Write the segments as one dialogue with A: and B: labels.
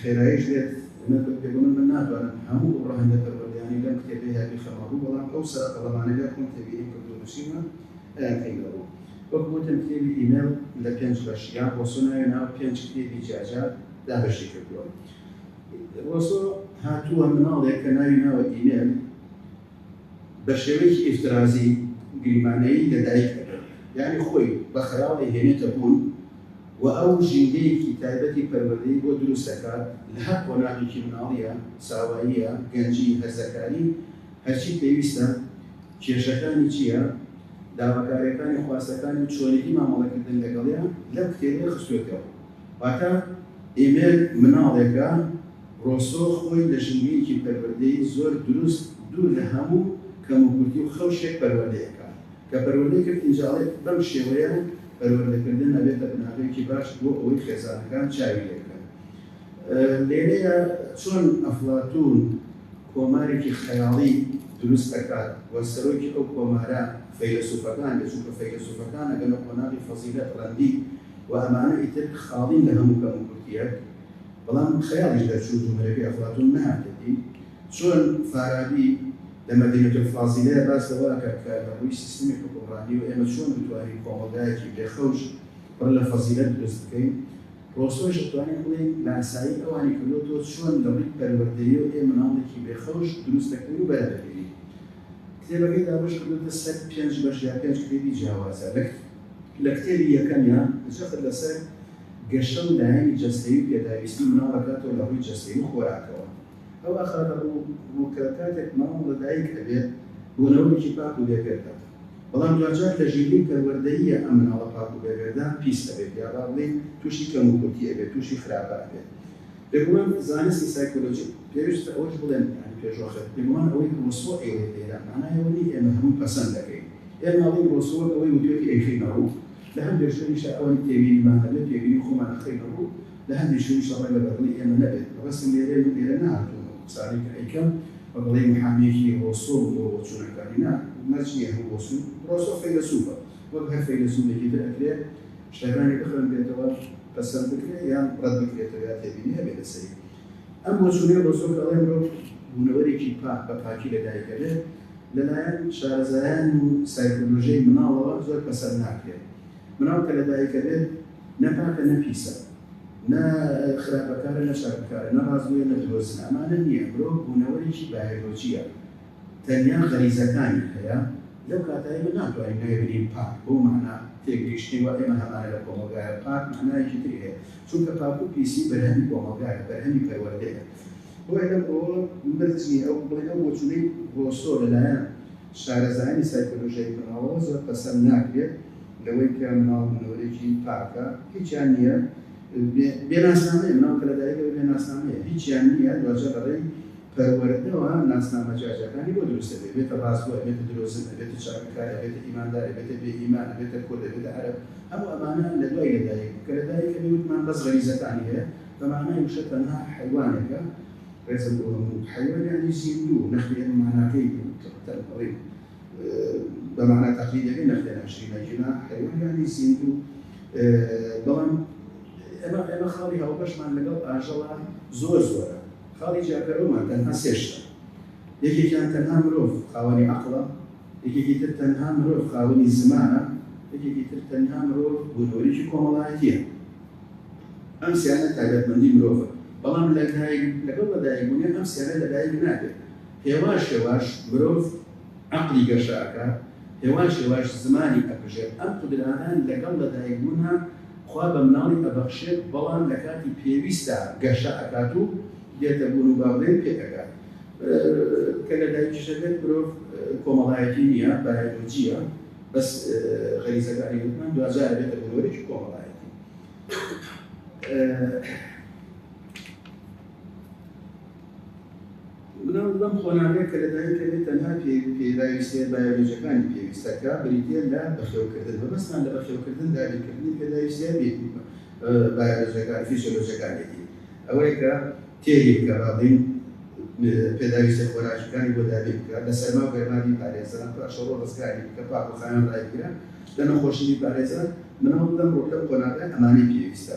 A: خێراییش بێت من بە پێ بڵێم من ناتوانم هەموو ئەو ڕەهەندە پەروەردەیانەی لەم کتێبەیە بیخەمە ڕوو، بەڵام ئەو سەرە قەڵەمانەگە خۆم تێبینیم کردوو و نووسیومە ئەیان خەینە ڕوو. وەک وتم کتێبی ئیمێل لە پێنج بەش یان ڕۆسۆ ناوی ناو پێنج کتێبی جیاجیا دابەشی کردووە. ڕۆسۆ هاتووە مناڵێک کە ناوی ناوە ئیمێل، بە شێوەیەکی ئیفترازی گریمانەیی لە دایک ئەبێت، یانی خۆی بە خەیاڵ ئەیهێنێتە بوون و ئەو ژینگەیەکی تایبەتی پەروەردەی بۆ دروست ئەکات لە هەر قۆناغێکی مناڵییە، ساواییە، گەنجی، هەرزەکاری، هەرچی پێویستە، کێشەکانی چییە، داواکارییەکانی، خواستەکانی و چۆنێتی مامەڵەکردن لەگەڵیان لەم کتێبەی خستووەتەوە. واتە ئیمێل مناڵێکە، ڕۆسۆ خۆی لە ژینگەیەکی پەروەردەیی زۆر دروست دوور لە هەموو کەموکورتی و خەوشێک پەروەردە ئەکات، کە پەروەردەی کرد ئینجاڵێت، بەم شێوەیە پەروەردەکردن ئەبێتە بناغەیەکی باش بۆ ئەوەی خێزانەکان چاوی لێ بکەن. لێرەیە چۆن ئەفڵاتوون کۆمارێکی خەیاڵی دروست ئەکات و سەرۆکی ئەو کۆمارە فەیلەسوفەکان دێ، چونکە فەیلەسوفەکان ئەگەنە قۆناغی فەزیلەت، ڕەندی و ئەمانە ئیتر خاڵین لە هەموو کەموکورتییەک. بەڵام خەیاڵیش دەرچوو بوومەلەکەی ئەفڵاتوون نەهاتێتی، چۆن فارابی لە مەدینە الفاضلە باس لەوە ئەکات کە لە ڕووی سیستمی حوکمڕانییەوە ئێمە چۆن بتوانین کۆمەڵگایەکی بێ خەوش پڕ لە فەزیلەت دروست بکەین، ڕۆسۆش ئەتوانین بڵێین لاسایی ئەوانی کردۆتەوە چۆن لە ڕووی پەروەردەییەوە ئێمە ماڵێکی بێ خەوش دروست دەکەین و بەرادەهێنین. کتێبەکەی دابەش کردۆتە سەر پێنج بەش یا پێنج کتێبی جیاوازە، لە کتێبی یەکەمیا جەخت لەسەر. گەشە و لایەنی جەستەیی و پێداویستی مناڵ دەکاتەوە لە ڕووی جەستەیی و خۆراکەوە ئەو ئاخاتە ڕوو کە کاتێک مناڵ لە دایک ئەبێت بوونەوەرێکی پاک و بێ گەردە بەڵام دواجار لە ژینگەی پەروەردەییە ئەم مناڵە پاک و بێ گەردە پیس ئەبێت یا با بڵێین تووشی کەم و کورتی ئەبێت تووشی خراپە ئەبێت بێگومان زانستی سایکۆلۆجی پێویستە ئەوەش بڵێم یانی پێشوەخت بێگومان ئەوەی ڕۆسۆ ئەیڵێت لێرە مانای ئەوە نییە ئێمە هەمووی پەسەند دەکەین ئێمە ئەڵێین ڕۆسۆ وەک ئەوەی وتووێتی ئەیخەینە ڕوو لە هەندێ شوێنیشە ئەوەنە تێبینیمان هەبێ تێبینی خۆمان ئەخەینە ڕوو، لە هەندێ شوێنیشە ڕەنگە بە دڵی ئێمە نەبێت. بەڕاستی لێرەی من لێرە نەهاتووم ئەو قسانەی کە ئەیکەم بە بەڵێی محامییەکی ڕۆسۆ و بۆ بۆچوونەکانی نا، مەرج نییە هەموو بۆچوون، ڕۆسۆ فەیلەسووفە وەک هەر فەیلەسووفێکی تر ئەکرێ شتەکانی بخوێنرێتەوە پەسەند بکرێ یان ڕەت بکرێتەوە یا تێبینی هەبێ لەسەری. ئەم بۆچوونەی ڕۆسۆ کە ئەڵێ مرۆڤ بوونەوەرێکی پاک بە پاکی لە دایک دەبێت، لەلایەن شارەزایان و سایکۆلۆژیای مناڵەوە زۆر پەسەند ناکرێت. مناڵ کە لە دایک دەبێت، نە پاکە نە پیسە، نە خراپەکارە نە چاکەکارە، نە ڕاستگۆیە نە درۆزنە، ئەمانە نییە، مرۆڤ بوونەوەرێکی بایەلۆجییە، تەنیا غەریزەکانی هەیە. لەو کاتە ئێمە ناتوانین ناوی بنێین پاک، بەو مانا تێگەیشتنەی وا ئێمە هەمانە لە کۆمەڵگایە، پاک مانایەکی تری هەیە، چونکە پاک و پیسی بەرهەمی کۆمەڵگایە، بەرهەمی پەروەردەیە. بۆیە لەم ڕووەوە مەرج نییە ئەو بڵێن ئەو بۆچوونەی ڕۆسۆ لەلایەن شارەزایانی سایکۆلۆژیای مناڵەوە زۆر پەسەند ناکرێت لەوەی کە مناڵ بوونەوەرێکی پاکە، هیچیان نییە، بێ ناسنامەیە، مناڵ کە لەدایکەوەی بێ ناسنامەیە، هیچیان نییە، دواجار لەڕێی. پەروەردەوە ناسنامە جیاجیاکانی بۆ دروست ئەبێ، ئەبێتە ڕاستگۆ، ئەبێتە درۆزن، ئەبێتە چاکەکار، ئەبێتە ئیماندار، ئەبێتە بێ ئیمان، ئەبێتە کورد، ئەبێتە عەرەب، هەموو ئەمانە لە دوای لەدایک بوو، کە لەدایک ئەبێ وتمان بەس غەریزەکانی هەیە، بە مانای وشە تەنها حەیوانێکە، ڕێزم بۆ هەموو حەیوان یانی زیندوو، نەخێر ئەمە ماناکەی نییە، تڕ تەن بڵێین بە مانا تەقلیدیەکەی نەخێر ناشرینە، جینا حەیوان یانی زیندوو، بەڵام ئێمە خاڵی هاوبەشمان لەگەڵ ئاژەڵە زۆر زۆرە. خاڵی جیاکەرەوەمان تەنها سێ شتە، یەکێکیان تەنها مرۆڤ خاوەنی عەقڵە، یەکێکی تر تەنها مرۆڤ خاوەنی زمانە، یەکێکی تر تەنها مرۆڤ بوونەوەرێکی کۆمەڵایەتییە. ئەم سێیانە تایبەتمەندی مرۆڤن، بەڵام لە لەگەڵ لەدایکبوونیان ئەم سێیانە لەدایک نابێت، هێواش هێواش مرۆڤ، عەقڵی گەشە ئەکات هێواش هێواش زمانی ئەپژێت ئەم قودرانە لەگەڵ لەدایک بوونها خوا بە مناڵی ئەبەخشێت بەڵام لە کاتی پێویستدا گەشە ئەکات و دێتە بوون و باوەێن پێ ئەگات کە لە دایکیش ئەبێت مرۆڤ کۆمەڵایەتی نیە بایەلۆجیە بەس غەریزەکانی وتمان دواجار ئەبێتە مرۆڤێکی کۆمەڵایەتی مناڵ لەم قۆناغەیە کە لەدایک دەبێت تەنها پێداویستیە بایۆلۆجیەکانی پێویست دەکات بریتیە لە بەخێوکردن، مەبەستمان لە بەخێوکردن دابینکردنی پێداویستیە بایۆلۆجیەکان فیسیۆلۆجیەکانیەتی ئەوەیە کە تێری بکات با بڵێین پێداویستیە خۆراکیەکانی بۆ دابین بکات لە سەرما و گەرما بیپارێزان پاشەوە ڕزگاری بکات پاک و خاوێن ڕایبگرە لە نەخۆشی بیپارێزان مناڵ لەم ڕۆ لەم قۆناغەیە ئەمانەی پێویستە.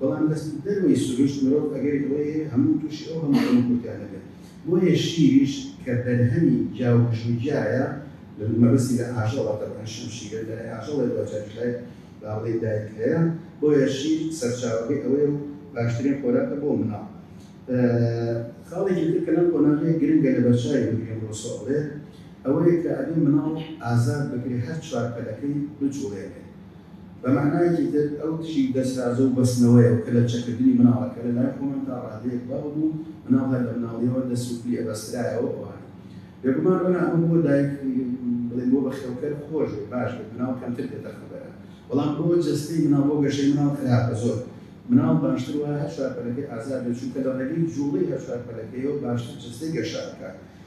A: بەڵام لە دەروەی سروشت مرۆڤ ئەگەری ئەوەی هەیە هەموو تووشی ئەو هەموو کەم و کورتیانە بێت، بۆیە شیریش کە بەرهەمی جا و گژ و گیایە، مەبەستی لە ئاژەڵە تەبعەن شمشیرە لە لای ئاژەڵێ دوجاریش لای با بڵێین دایک هەیە، بۆیە شیر سەرچاوەکەی ئەوەیە و باشترین خۆراکە بۆ مناڵ. خاڵێکی تر کە لەم قۆناغەیە گرنگە لە بەرچاوی بگرین ڕۆسۆ ئەڵێت ئەوەیە کە ئەبێ مناڵ ئازاد بکرێ هەر چوار پەلەکەی بجوڵێنێ بە مەعنایەکی تر ئەو دژی دەسرازە و بەستنەوەیە و کە لە چەککردنی مناڵە کە لە لای خۆمان تا ڕادەیەک باو بوو، مناڵ هەر لە مناڵییەوە دەست و پلی ئەبەسترایەوە بۆ هەر. بێگومان ڕەنا ئەمە بۆ دایک بڵێم بۆ بەخێوکەر خۆش بێت باش بێت مناڵ کەمتر دێتە خەبەرە بەڵام بۆ جەستەی مناڵ بۆ گەشەی مناڵ خراپە زۆر مناڵ باشتر وایە هەر چوار پەلەکەی ئازاد بێت چونکە لە ڕێگەی جووڵەی هەر چوار پەلەکەیەوە باشتر جەستەی گەشە ئەکات.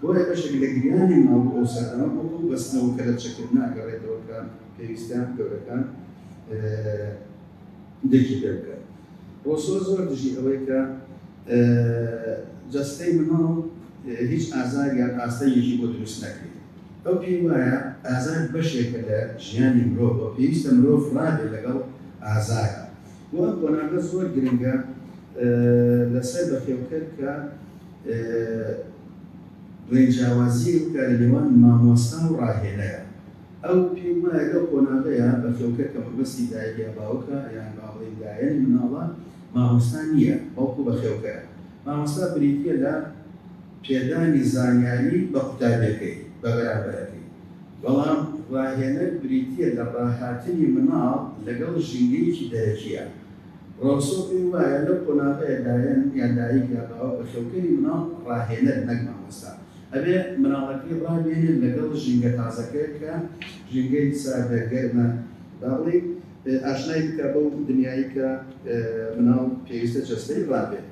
A: بۆیە بەشێک لە گریانی ماوو ئەو سەردەمە بۆ ئەو بەستنەوە کە لە چەکردنە ئەگەڕێتەوە کە پێویستیان گەورەکان درکی پێ بکات. ڕۆسۆ زۆر دژی ئەوەی کە جەستەی مناڵ هیچ ئازار یان ئاستەنگێکی بۆ دروست نەکرێت. ئەو پێی وایە ئازار بەشێکە لە ژیانی مرۆڤ و پێویستە مرۆڤ ڕابێت لەگەڵ ئازار. بۆ ئەم قۆناغە زۆر گرنگە لەسەر بەخێوکەر کە. دوێنێ جیاوازییەک بکا لە نێوان مامۆستا و ڕاهێنەر، ئەو پێی وایە لەو قۆناغەیا بەفیڵکە کە مەبەستی دایک یا باوکە یان با بڵێین لایەنی مناڵە، مامۆستا نییە بەڵکو بەخێوکەرە. مامۆستا بریتییە لە پێدانی زانیاری بە قوتابیەکەی، بە بەرامبەرەکەی، بەڵام ڕاهێنەر بریتییە لە ڕاهاتنی مناڵ لەگەڵ ژینگەیەکی دەرەکییا، ڕۆسۆ پێی وایە لەو قۆناغەیە دایەن یان دایک یا باوک بە خێوکەری منداڵ ڕاهێنەر نەک مامۆستا ئەبێ منداڵەکەی ڕابێنێت لەگەڵ ژینگە تازەکە کە ژینگەی ساردە گەرمە با بڵێین ئاشنای بکە بەو دنیایی کە منداڵ پێویستە جەستەی ڕابێت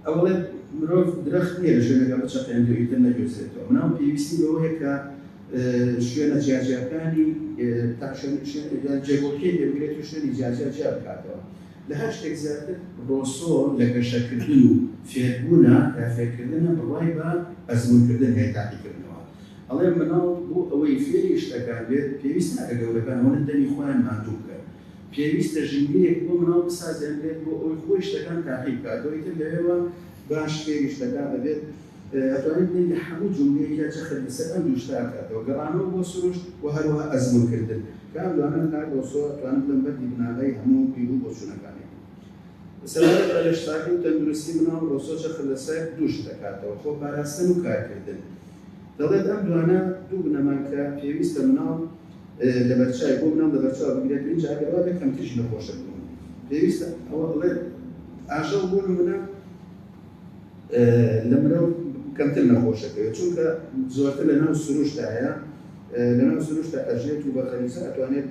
A: ئەوڵێ مرۆڤ درەخت نییە لە ژوێنەکە بچەقێنێت و ئیتر نەگوێزرێتەوە منداڵ پێویستی بەوەیە کە شوێنە جیاجیاکانی تاشۆنشێن جێگۆکێ دەگرێت و شوێنی جیاجیا جیا بکاتەوە لە هەر شتێک زیاتر ڕۆسۆ لە گەشەکردن و فێربوونا یا فێرکردنە بڕوای بە ئەزموونکردن هەیە تاقیکردنەوە ئەڵێ مناڵ بۆ ئەوەی فێری شتەکان بێت پێویست ناکە گەورەکان هەولن دەمی خۆیان ماندوو بکەن پێویستە ژینگەیەک بۆ مناڵ بسازێنرێت بۆ ئەوەی خۆی شتەکان تاقی بکاتەوە ئیتر لەوێوە باش فێری شتەکان ئەبێت ئەتوانیت دەنگی هەموو جومگەیەک یا چەخێک لەسەر ئەم دوو شتە ئەکاتەوە، گەڕانەوە بۆ سروشت و هەروەها ئەزموونکردن، کە ئەم دوانە لە لای ڕۆسۆ ئەتوانن ببن بەردی بناغەی هەموو بیر و بۆچوونەکانی. سەبارەت بە لەشساغی و تەندروستی مناڵ، ڕۆسۆ چەخ لەسەر دوو شت ئەکاتەوە، خۆپاراستن و کارکردن. دەڵێت ئەم دوانە دوو بنەمان کە پێویستە مناڵ لەبەرچاوی بۆ مناڵ لەبەرچاو بگرێت، ئینجا ئەگەر وابێت کەمتریش نەخۆش ئەبن و پێویستە. ئەوە دەڵێت ئاژەڵ بۆ نموونە. لە مرۆڤ کەمتر نەخۆشەکەوێت چونکە زۆرتر لە ناو سروشتایە لە ناو سروشتە ئەژێت و بە غەریزە ئەتوانێت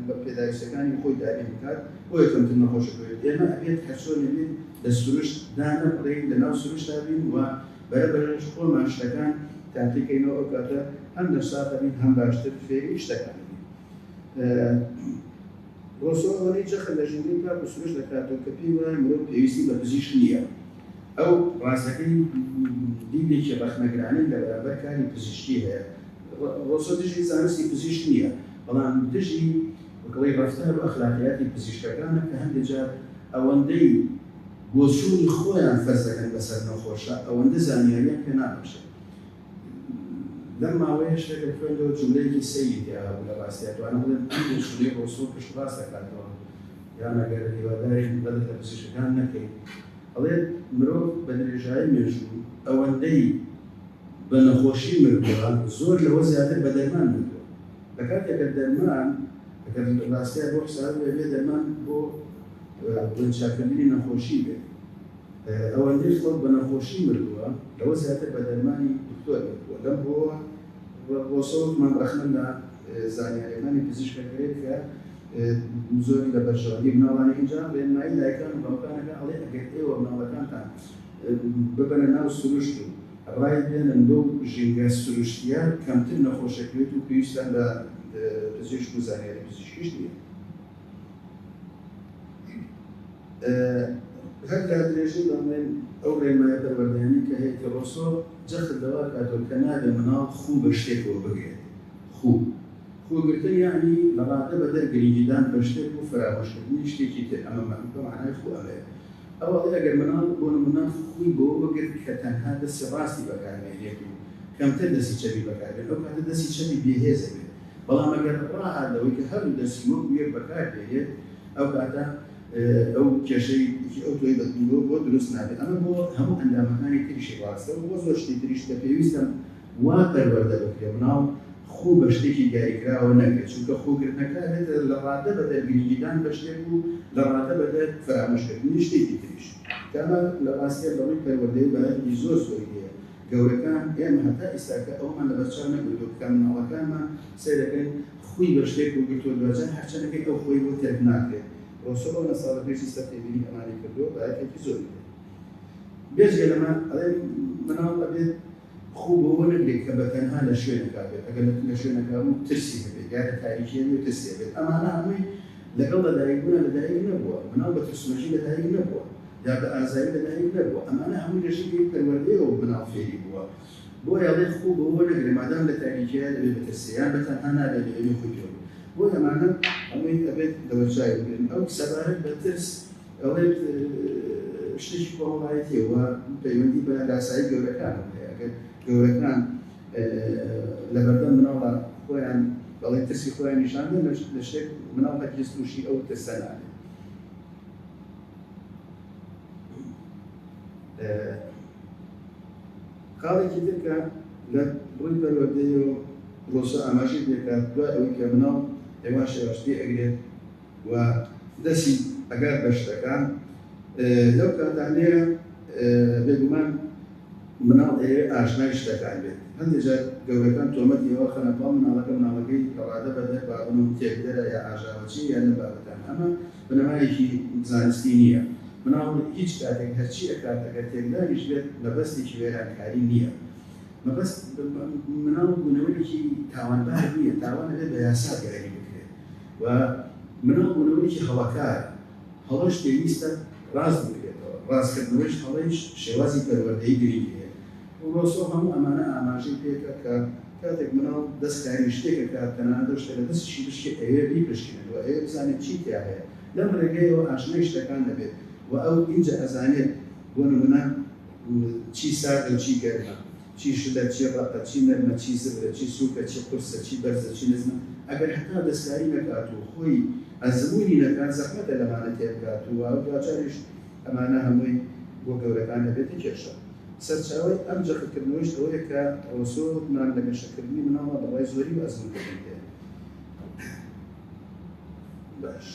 A: بە پێداویستەکانی خۆی دابین بکات بۆیە کەمتر نەخۆشەکەوێت ئێمە ئەبێت هەرچۆنێ بێت لە سروشت دانەبڕین لە ناو سروشتا بین و بەرەبەرش خۆمان شتەکان تاقیکەینەوە ئەو کاتە هەم نەساغە بین هەم باشتر فێری شتەکان بین. ڕۆسۆ ئەوەندەی جەخت لە ژمارەی تاک و سروشت دەکاتەوە کە پێی وایە مرۆڤ پێویستی بە پزیشک نییە، ئەو ڕاستەکەی دیدێکی ڕەخنەگرانەی لە بەرامبەر کاری پزیشکی هەیە، ڕۆسۆ دژی زانستی پزیشک نییە، بەڵام دژی بکڵەی ڕەفتار و ئەخلاقیاتی پزیشکەکانە کە هەندێ جار ئەوەندەی بۆچوونی خۆیان فەرز دەکەن بەسەر نەخۆشە، ئەوەندە زانیارییان پێ نابەخشێت. لەم ماوەیە شتێکم خوێندەوە جوملەیەکی سەیری تیاهەبوو لە باسیا توانم بڵێم ئەم پێشینەی ڕۆسۆ پشت ڕاست دەکاتەوە یا مەگەر هیوادارین بەدەر لە پزیشکەکان نەکەین ئەڵێت مرۆڤ بە درێژایی مێژوو ئەوەندەی بە نەخۆشی مردووە زۆر لەوە زیاتر بە دەرمان مردووە لە کاتێکە دەرمان ئەگەر ڕاستیان بۆ حساب بێ دەرمان بۆ چاکردنی نەخۆشی بێت ئەوەندەی خەڵک بە نەخۆشی مردووە لەوە زیاتر بە دەرمانی دکتۆر مردووە لەم هۆوە بۆسە وتمان رەخنە لە زانیاریەکانی پزیشک ئەگرێت کە زۆری لە بەرژەوەندی مناڵانی ئینجا رێنمایی دایکان و باوکانەکە ئەڵێ ئەگەر ئێوە مناڵەکانتان ببەنە ناو سروشت و رای بێنن بەو ژینگە سروشتیە کەمتر نەخۆش ئەکرێت و پێویستان بە پزیشک و زانیاری پزیشکیش نیە. هەر کات درێژەی بە مەی ئەو ڕێنمایە پەروەردەیانەی کە هەیەتی ڕۆسۆ جەخت لەوە کاتەوە کە نابێ مناڵ خوو بە شتێکەوە بگرێت. خوو خوو گرتن یانی لە ڕادە بە دەر گرنگی دان بە شتێک و فەرامۆش کردنی شتێکی تر ئەمە مە بە مەعنای خوو ئەمەیە. ئەو ئەڵێ ئەگەر مناڵ بۆ نموونە خووی بەوە بگرت کە تەنها دەستی ڕاستی بەکار بێنێت و کەمتر دەستی چەپی بەکار بێنێت ئەو کاتە دەستی چەپی بێ هێز ئەبێت. بەڵام ئەگەر ڕاهات لەوەی کە هەردوو دەستی وەکو یەک بەکار بێرێت ئەو کاتە ئەو کێشەی ئەو تۆی بەدنیوە بۆ دروست نابێت ئەمە بۆ هەموو ئەندامەکانی تریشی ڕاستە و بۆ زۆر شتی تریش کە پێویستم وا پەروەردە بکرێ مناڵ خو بە شتێکی دیاریکراوە نەگرێت چونکە خوکردنەکە ئەبێتە لە ڕاددە بەدەر گرنگیدان بە شتێک و لە ڕاددە بەدەر فەرامۆشکردنی شتێکی تریش کە ئەمە لە ڕاستیا لە ڕووی پەروەردەیی بایەخی زۆر زۆری هەیە گەورەکان ئێمە هەتا ئیستاکە ئەوەمان لەبەر چاو نەگرتووە کە مناڵەکانمان سەیرەکەن خوی بە شتێک وگرتووە دواجار هەر چەنەکەی ئەو خوی بۆ تەرک ناکرێت و سۆ ئەو نەساڵە پێشی سەر تێبینی ئەمانی کردووە بە ئەرکێکی زۆری دێت بێجگە لەمە ئەڵێن مناڵ ئەبێت خو بەوە نەگرێت کە بە تەنها لە شوێنەکە بێت ئەگەر لە شوێنەکە بوو ترسی هەبێت یا لە تاریکیە بێت ترسی هەبێت ئەمانە هەمووی لەگەڵ لەدایکبوونا لەدایک نەبووە، مناڵ بە ترسنۆکی لەدایک نەبووە، یا بە ئازاری لەدایک نەبووە، ئەمانە هەمووی لە ژینگەی پەروەردەیەوە مناڵ فێری بووە، بۆیە ئەڵێ خوو بەوە نەگرە مادام لە تاریکیە دەبێ بترسێ یان بە تەنها نابێ لە ئێمەی خۆی پێ بڵێ، بۆیە ئەمانە هەمووی ئەبێت لەبەرچاوی بگرن، ئەو سەبارەت بە ترس ئەڵێت شتێکی کۆمەڵایەتیە و پەیوەندی بە لاسایی گەورەکانەوە هەیە، ئەگەر گەورەکان. لەبەردەم مناڵە خۆیان دەڵێن ترسی خۆیان نیشاندەن لە شتێک مناڵ هەرگیز تووشی ئەو ترسە نابێت خاڵێکی ترکە لە ڕووی پەروەردەی و پرۆسە ئاماژەی دەکات دوای ئەوەی کە مناڵ هێواش هێواش پێ ئەگرێت و دەستی ئەگات بە شتەکان لەو کاتانەیە بێگومان مناڵ ئەیەوێ ئاشنای شتەکان بێت هەندێک جار گەورەکان تۆمەتی ئەوە خەنە پاڵ مناڵەکە مناڵەکەی گەڵادە بە دەر با بنوم تێکدەرە یا ئاژاوەچی یا لەم بابەتان ئەمە بنەمایەکی زانستی نییە مناڵ هیچ کاتێک هەرچی ئەکات ئەگەر تێکداریش بێت مەبەستێکی وێرانکاری نییە مەبەست مناڵ بوونەوەیەکی تاوانبار نییە تاوان ئەبێت بە یاسا دیاری بکرێت و مناڵ بوونەوەیەکی هەڵەکارە، هەڵەش پێویستە ڕاست بکرێتەوە، ڕاستکردنەوەیش هەڵەیش شێوازی پەروەردەیی گرنگی هەیە. ڕوسۆ هەموو ئەمانە ئاماژەی پێکا کە کاتێک مناڵ دەست کاری شتێک ئەکات تەنانەت ئەو شتە لە دەستیشی بشکێت ئەیەوێت بیپشکنێت و ئەیەوێت بزانێت چی تیا هەیە لەم ڕێگەیەوە ئاشنای شتەکان دەبێت و ئەو ئینجا ئەزانێت بۆ نمونە چی ساردە و چی گەرمە. چی شلە، چی ڕەقە، چی نەرمە، چی زبرە، چی سووکە، چی قورسە، چی بەرزە، چی نزمە، ئەگەر هەتا دەستکاری نەکات و خۆی ئەزموونی نەکات، زەحمەتە لەمانە تێبگات و دواجاریش ئەمانە هەمووی بۆ گەورەکان دەبێتە کێشە. سەرچاوەی ئەم جەختکردنەوەیش ئەوەیە کە ڕۆسۆ گومان لە گەشەکردنی مناڵدا بەڕای زۆری و ئەزموونکردن پێ باش.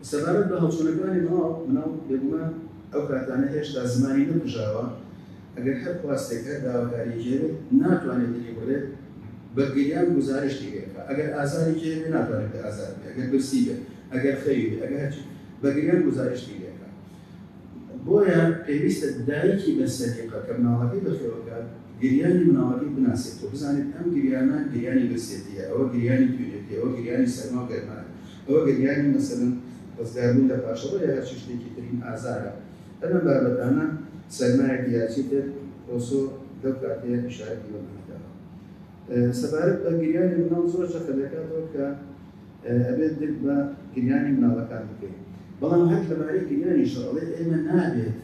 A: سەبارەت بە هەڵچوونەکانی مناڵ، مناڵ بێگومان ئەو کاتانە هێشتا زمانی نەکوژاوە، ئەگەر هەر خواستێک، هەر داواکارییەکی هەبێت، ناتوانێت دلی بڕێت، بە گریان گوزارشتی پێ بکات، ئەگەر ئازارێکی هەبێت، ناتوانێت پێ ئازار بدات، ئەگەر برسی بێت، ئەگەر خەوی بێت، ئەگەر هەرچی بێت، بە گریان گوزارشتی لێ بکات. بۆیە پێویستە دایکی بە سەلیقە کە مناڵەکەی بەخێوەکات گریانی مناڵەکەی بناسێت و بزانێت ئەم گریانە گریانی برسێتیە ئەوە گریانی توێتی ئەوە گریانی سەرما و گەرمایە ئەوە گریانی مەسەلەن ڕزگار بوون لە پاشەڕۆ یا هەرچی شتێکی ترین ئازارە هەر ئەم بابەتانە سەرمایەک یا چی تر ڕۆسۆ لەو کاتەیە ئیشارەتی بەمانە داوە سەبارەت بە گریانی مناڵ زۆر چەقە دەکاتەوە کە ئەبێت درک بە گریانی مناڵەکان بکەین بەڵام هەر لەبارەی گریانیش ئەڵێ ئێمە نابێت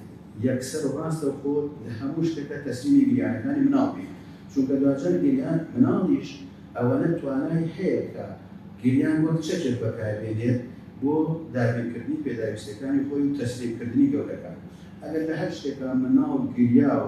A: یەکسەر و ڕاستەوخۆ لە هەموو شتەکە تەسلیمی گریانەکانی مناڵ بین چونکە دواجار گریان مناڵیش ئەوەنە توانای هەیە کە گریان وەک چەکێک بەکاربێنێت بۆ دابینکردنی پێداویستیەکانی خۆی و تەسلیمکردنی گەورەکان ئەگەر لە هەر شتێکا مناڵ گریا و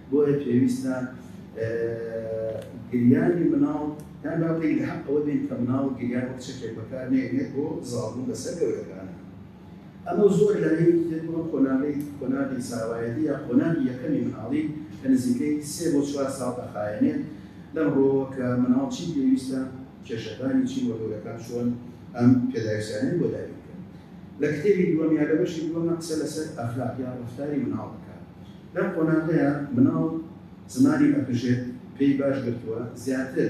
A: بۆیە پێویستە گریانی منداڵ یان با بڵێین لە حەق ئەوە بین کە منداڵ گریان وەک چەکێک بەکار نەهێنێت بۆ زاڵبوون بەسەر گەورەکان. ئەمە زۆر لایەنێکی دێت بۆ قۆناغی قۆناغی زاوایەتی یا قۆناغی یەکەمی منداڵی کە نزیکەی سێ بۆ چوار ساڵ دەخایەنێت لەم ڕووەوە کە منداڵ چی پێویستە، کێشەکانی چین وە گەورەکان چۆن ئەم پێداویستیانەیان بۆ دابین بکەن. لە کتێبی دووەم یا لە بەشی دووەمە قسە لەسەر ئەخلاق یا ڕەفتاری منداڵ دەکات. لەم قۆناغەیا مناڵ زمانی ئەپژێت پێی باش گرتووە زیاتر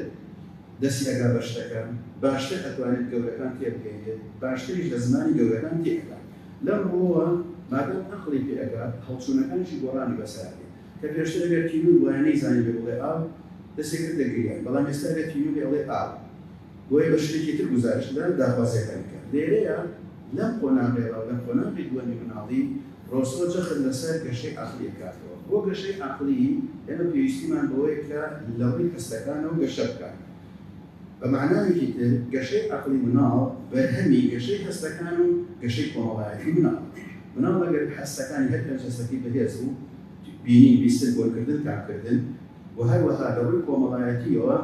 A: دەسی ئەگا بە شتەکان باشتر ئەتوانێت گەورەکان تێبگەیەنێت باشتریش لە زمانی گەورەکان تێ ئەگا لەم ڕووەوە مادام ئەقڵی پێ ئەگا هەڵچوونەکانیشی گۆڕانی بەسەر ئەبێت کە پێشتر ئەگەر تینوور بوایە نەیزانیبێ بڵێ ئاو دەسێ کردە گریان بەڵام ئێستا ئەگەر تینوور بێ ئەڵێ ئاو. بۆیە بە شتێکی تر گوزارشت لە داخوازییەکان بکە. لێرەیە لەم قۆناغەیەوە، لە قۆناغی دووەمی مناڵی، ڕۆسۆ جەخت لەسەر گەشەی عەقڵی ئەکاتەوە. بۆ گەشەی عەقڵی، ئێمە پێویستیمان بەوەیە کە لە ڕووی هەستەکانەوە گەشە بکات. بە مەعنایەکی تر، گەشەی عەقڵی مناڵ بەرهەمی گەشەی هەستەکان و گەشەی کۆمەڵایەتی مناڵە. مناڵ ئەگەر هەستەکانی هەر پێنج هەستەکەی بەهێز بوو، بینین، بیستن، بۆنکردن، تامکردن، و هەروەها لە ڕووی کۆمەڵایەتییەوە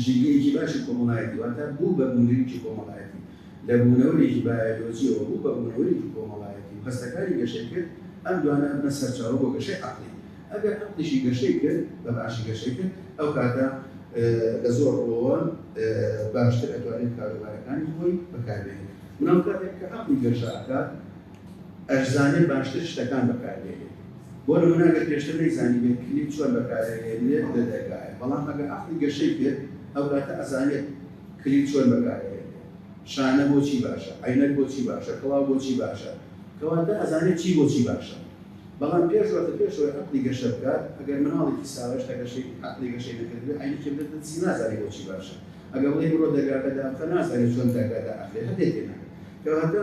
A: ژینگەیەکی باشی کۆمەڵایەتی واتە بوو بە بوونەریکی کۆمەڵایەتی لە بوونەوەرێکی بایۆلۆجییەوە بوو بە بوونەوەرێکی کۆمەڵایەتی و هەستەکانی گەشەی کرد ئەم دوانە ئەبنە سەرچاوە بۆ گەشەی عەقڵی ئەگەر عەقڵیشی گەشەی کرد بە باشی گەشەی کرد ئەو کاتە لە زۆر ڕووەوە باشتر ئەتوانێت کاروبارەکانی خۆی بەکاربێنێت بەڵام کاتێک کە عەقڵی گەشە ئەکات ئەشزانێ باشتر شتەکان بەکاربهێنێت بۆ نمونە ئەگەر پێشتر نەیزانیبێت کلیل چۆن بەکارەهێنرێت لە دەرگایە بەڵام ئەگەر عەقڵی گەشەی بێت ئەوکاتە ئەزانێت کلیل چۆن بەکارەهێنرێت شانە بۆچی باشە عەینەک بۆچی باشە کڵاو بۆچی باشە کەواتە ئەزانێت چی بۆچی باشە بەڵام پێش وەختە پێش ئەوەی عەقڵی گەشە بکات ئەگەر مناڵێکی ساوە هێشتا گەشەی عەقڵی گەشەی نەکردبێت عەینەکی بدەتە دەستی نازانێت بۆچی باشە ئەگەر بڵێی بڕۆ دەرگاکە دابخە نازانێت چۆن دەرگا دائەخرێت هەندێک تێناگەن کەواتە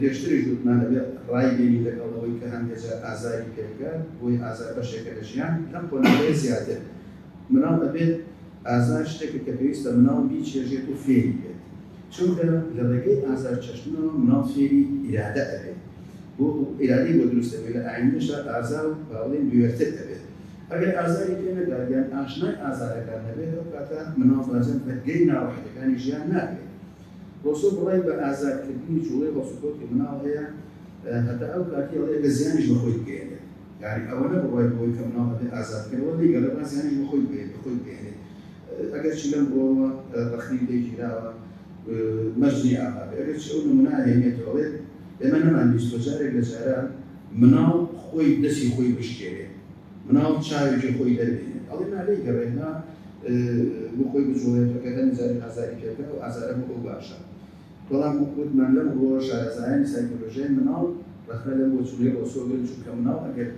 A: پێشتریش وتمان دەبێت ڕایبینین لەگەڵ ئەوەی کە هەندێ جار ئازاری پێگە بۆی ئازار بەشێکە لە ژیان لەم قۆناغەی زیاتر مناڵ دەبێت ئازار شتێکە کە پێویستە مناڵ بیچێژێت و فێری بێت چونکە لە ڕێگەی ئازار چەشتنەوە مناڵ فێری ئیرادە ئەبێت بۆ ئیرادەی بۆ دروست دەبێت لە ئایندەشا ئازار و باڵێن بوێرتر دەبێت ئەگەر ئازاری پێ نەدات یان ئاشنای ئازارەکان نەبێت ئەو کاتە مناڵ بەجەن بەرگەی ناڕەحەتەکانی ژیان نابێت ڕۆسۆ بڕای بە ئازادکردنی جوڵەی هەڵسوکەوتی مناڵ هەیە هەتا ئەو کاتی ئەڵێ ئەگەر زیانیش بە خۆی بگەیەنێت یانی ئەوە نە بڕای بەوەی کە مناڵ ئەبێ ئازاد بکەن ئەوە نەیگەڕێ با زیانیش بە خۆی بگەیەنێت خۆی بگەیەنێت ئەگەر چی لەم ڕۆوە ڕەخنەی لێ گیراوە مەرجنی ئاغا بێ ئەگەر چی ئەو نمونە ئەهێنێتەوە ئەڵێ ئێمە نەمانبیستووە جارێک لە جاران مناڵ خۆی دەستی خۆی بشکێنێت مناڵ چاوێکی خۆی دەربهێنێت ئەڵێ نا لێی گەڕێ نا بۆ خۆی بجوڵێت بە کردنی جاری ئازاری پێ بکات ئەو ئازارە بۆ ئەو باشە بەڵام وەک وتمان لەم ڕووەوە شارەزایانی سایکۆلۆژیای مناڵ ڕەخنە لەم بۆچوونەی ڕۆسۆ گرن چونکە مناڵ ئەگەر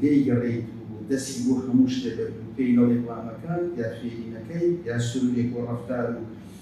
A: لێی گەڕێیت و دەستی بۆ هەموو شتێ بەرد و پێی نەڵێیت وا مەکە یا فێری نەکەیت یا سلووک و ڕەفتار و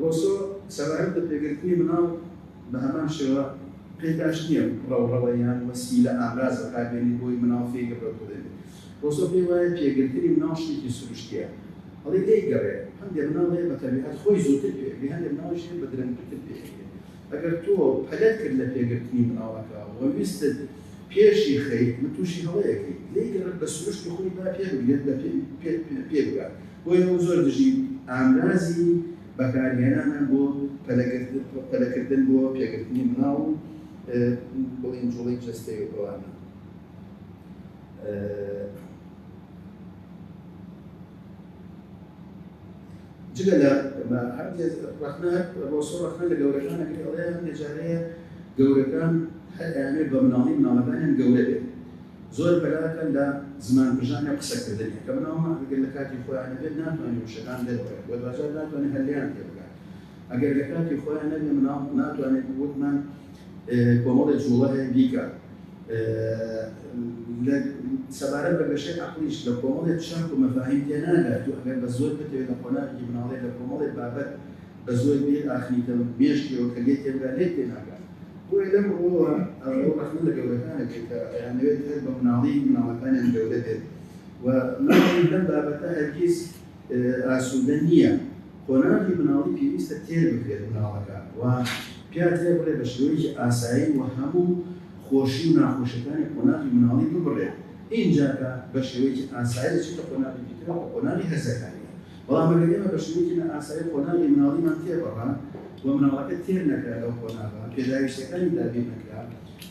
A: ڕۆسۆ سەبارەت بە پێگرتنی منداڵ بە هەمان شێوە پێی باش نییە ڕەوڕەوە یان وەسیلە، ئامراز، بەکاربێنیت بۆی منداڵ فێی گڕگڕ ببێت. ڕۆسۆ پێی وایە پێگرتنی منداڵ شتێکی سروشتییە. ئەڵی لێی گەڕێ، هەندێ منداڵ هەیە بە تەبیعەت خۆی زووتر پێ ئەگرێ، هەندێ منداڵیش هەیە بە درەنگتر پێ ئەگرێ. ئەگەر تۆ پەلەت کرد لە پێگرتنی مناڵەکە و ویستت پێشی خەیت من توشی هەڵەیەکەی لێی گەڕێت بە سروشت و خوی با پێ بگرێت بە پێ بگات بۆیە من زۆر دژی ئامرازی بەکار هێنانە بۆ پەلە کردن بۆ پێگرتنی مناڵ و بڵین جوڵی جەستەی و ئەوانە. جگە لە مە هەندێ ڕەخنە ڕۆسۆ ڕەخنە لە گەورەکانە کرد ئەڵێ هەندێ جارەیە گەورەکان هەر ئەیانەوێت بە مناڵی مناڵەکانیان گەورە بێت زۆر بەلاکەن لە زمان پژان یا قسەکردنی کە مناڵمە ئەگەر لە کاتی خۆیان نەبێت ناتوانین وشەکان دەربێت و دوجار ناتوانێت هەلیان تێ بکات ئەگەر لە کاتی خۆیان نەبێ مناڵ ناتوانێت وتمان کۆمەڵێ جووڵە هەیە بیکە. لە سەبارەت بە گەشەی عەقڵیش لە کۆمەڵێ چەمک و مەفاهیم تێناگات. تۆ ئەگەر بە زۆر بتەوێ لە قۆناغێکی مناڵیت لە کۆمەڵێ بابەت بە زۆر بیر ئاخنیتە مێشکیەوە کە لێت تێبگات لێت تێناگات. بۆیە لەم ڕووەوە ئەو ڕەخنە لە گەورەکانە کرد کە ئەیانەوێت هەر بە مناڵی مناڵەکانیان گەورە بێت و مناڵی لەم بابەتە هەرگیز ئاسوودە نییە. قۆناغی مناڵی پێویستە تێر بکرێت مناڵەکە و پیا تێ بڕێ بە شێوەیەکی ئاسایی و هەموو خۆشی و ناخۆشیەکانی قۆناغی مناڵی ببڕێت ئینجا کە بە شێوەیەکی ئاسایی دەچێتە قۆناغێکی تر ئەوە قۆناغی هەرزەکاریە بەڵام ئەگەر ئێمە بە شێوەیەکی نا ئاسایی قۆناغی مناڵیمان تێ بڕا و مناڵەکە تێر نەکرا لەو قۆناغە پێداویستیەکانی دابین نەکرا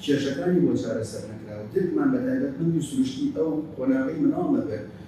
A: کێشەکانی بۆ چارەسەر نەکرا و درکمان بە تایبەتمەندی سروشتی ئەو قۆناغەی مناڵ نەکرد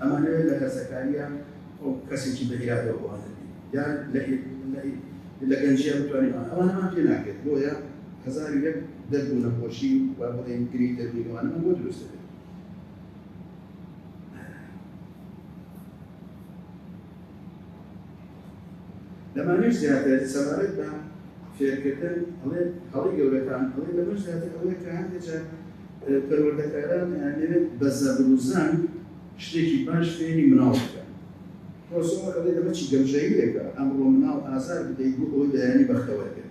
A: ئەمانەوێت لە هەرزەکارییە ئەو کەسێکی بە ئیرادەوە بوانە بین یان لە لە گەنجیە بتوانین ئەوانەمان پێ ناکرێت بۆیە هەزار و یەک دەرد و نەخۆشی و بڵێن گری دەروی ئەوانەمان بۆ دروست دەبێت لەمانەش زیاتر سەبارەت بە فێرکردن ئەڵێت، هەڵەی گەورەکان ئەڵێ لەمەش زیاتر ئەوەیە کە هەندێ جار پەروەردەکاران ئەیانەوێت بە زەبر و زەنگ شتێکی باش فێری مناڵ بکەن. پرۆسۆر ئەڵێ لەمە چی گەمژەییەکە ئەمڕۆ مناڵ ئازار بدەیت بۆ ئەوەی بەیانی بەختەوەر بێت.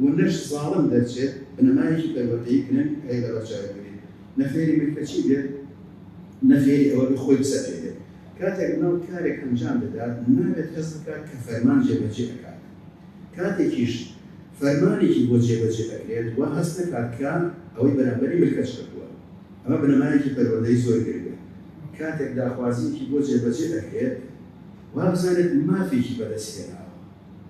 A: و نەش زاڵم دەرچێت بنەمایەکی پەروەردەیی گرنگ هەیە لە بەرچاوی بگرین نە فێری ملکەچی بێت نە فێری ئەوە بێت خۆی بسەپێنێت کاتێک مناڵ کارێک ئەنجام دەدات نابێت هەست بکات کە فەرمان جێبەجێ ئەکات کاتێکیش فەرمانێکی بۆ جێبەجێ ئەکرێت وا هەست نەکات کە ئەوەی بەرامبەری ملکەچ کردووە ئەمە بنەمایەکی پەروەردەی زۆر گرنگە کاتێک داخوازییەکی بۆ جێبەجێ ئەکرێت وا بزانێت مافێکی بەدەست هێناوە.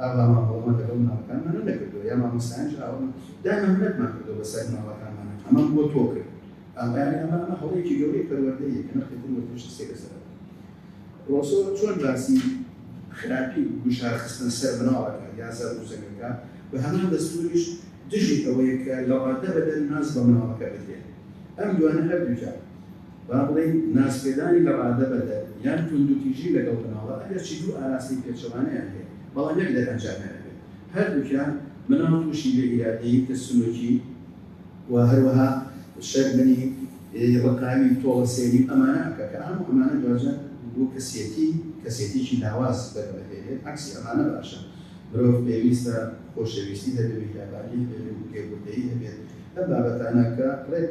A: ئاوا ماڵەوەمان لەگەڵ مناڵەکانمان نەدەکردوە یا مامۆستایانش ئاوا دایمە منەتمان کردوە بەسەر مناڵەکانمانا ئەمەم بۆ تۆ کرد ئاوایانی ئەمە ئەمە هەڵەیەکی گەورەی پەروەردەیە کە نەخێت وەرتش سێکە سەر ڕۆسۆ چۆن باسی خراپی گوشار خستن سەر مناڵەکە یا سەر ڕووسەکەکە بە هەمان دەستوریش دژی ئەوەیە کە لە ڕاددە بەدەر ناز بە مناڵەکە بدرێت ئەم دوانە هەردووجار با بڵێین نازپێدانی لە ڕادە بەدەر یان توندوتیژی لەگەڵ مناڵە ئەگەرچی دوو ئاراستەی پێچەوانەیان هەیە بەڵام یەک دەرئەنجامیان ئەبێت هەردووکیان مناڵ تووشی بێ ئیرادەیی ترسنۆکی و هەروەها شەرمنی ڕقاوی تۆڵە سێری ئەمانە ئەکە کە ئەم ئەمانە دواجار بۆ کەسێتی کەسێتیکی لاواز دەگەڵێت عکسی ئەمانە باشە مرۆڤ پێویستە خۆشەویستی هەبێت میهرەبانی هەبێت و پێبوردەیی هەبێت ئەم بابەتانە کە ڕێک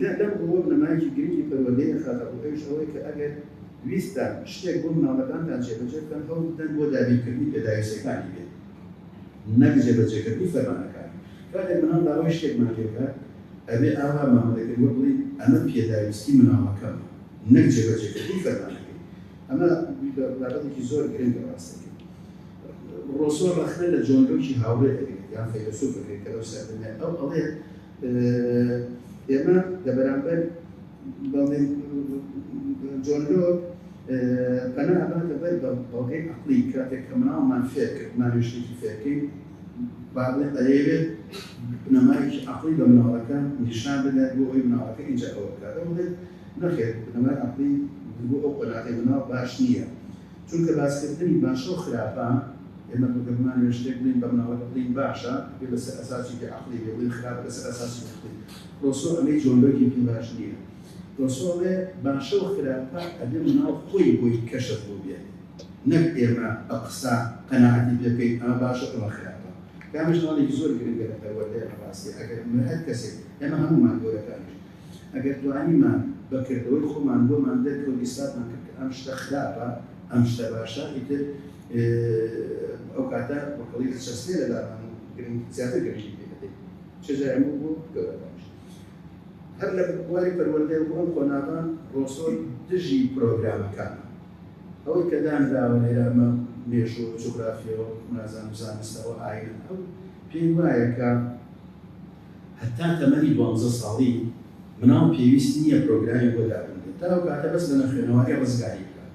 A: جا لەم ڕووەوە بنەمایەکی گرنگی پەروەردەی دەخاتە ڕوو ئەویش ئەوەی کە ئەگەر ویستتان شتێک بۆ منداڵەکانتان جێبەجێ بکەن هەوڵ بدەن بۆ دابینکردنی پێداویستیەکانی بێت نەک جێبەجێکردنی فەرمانەکانی کاتێک منداڵ داوای شتێکمان لێ بکات ئەبێ ئاوا مامەلەکەی وەک بڵێین ئەمە پێداویستی منداڵەکەمە نەک جێبەجێکردنی فەرمانەکەی ئەمە بابەتێکی زۆر گرنگە ڕاستەکەی ڕۆسۆ ڕەخنە لە جۆن لۆکی هاوڕێ دەگرێت یان فەیلەسوفەکەی کە لەو سەردەمە ئەو ئەڵێت ئێمە لە بەرامبەر بەڵێن جۆن لۆک پەنا ئەباتە بەر بە بەڵگەی عقلی کاتێک کە مناڵمان فێر کرد مانوێشتێکی فێرکەین با بڵێن ئەیەوێت بنەمایەکی عقلی بە مناڵەکە نیشان بدات بۆ ئەوی مناڵەکە ئینجا ئەوە بکات ئەو بڵێت نەخێت بنەمای عقلی بۆ ئەو قۆناغی مناڵ باش نییە چونکە باسکردنی باشە و خراپە، ئێمە گەر بمانەوێت شتێک بڵێین بە مناڵێک بڵێین باشە، ئەبێت لەسەر ئەساسێکی عەقڵی بێت، بڵێین خراپە لەسەر ئەساسێکی عەقڵی. ڕۆسۆ ئەڵێ جۆلۆکێکی باش نییە. ڕۆسۆ ئەڵێ باشە و خراپە ئەبێت مناڵ خۆی بۆی کەشف بووبێت، نەک ئێمە بە قسە قەناعەتی پێ بکەین ئەمە باشە ئەمە خراپە. کە ئەمەش هەڵێکی زۆر گرنگە لە پەروەردەی ڕاستییە، ئەگەر مرئ هەر کەسێک، ئێمە هەموومان گەورەکانیش، ئەگەر توانیمان بە کردەوەی خۆمان بۆمان دەرکەوت ئیسپاتمان کرد کە ئەم شتە خراپە ئەم شتە باشە ئیتر ئەو کاتە وەکەڵی ئەچەسپێ لە لامان و گرنگ زیاتر گرنگی پێ دەدەین چ جای ئەمە بۆ گەورەکانیش هەر لە بواری پەروەردە بۆ ئەم قۆناغە ڕۆسۆ دژی پرۆگرامەکان ئەوەی کە دانراوە لێرامە مێژوو جوگرافیەوە نازان و زانستەوە ئاین ئەو پێی وایە کە هەتا تەمەنی دوانزە ساڵی مناڵ پێویست نییە پرۆگرامی بۆ دابنرێت تا ئەو کاتە بەس لە نەخوێنەواری ڕزگاری بکات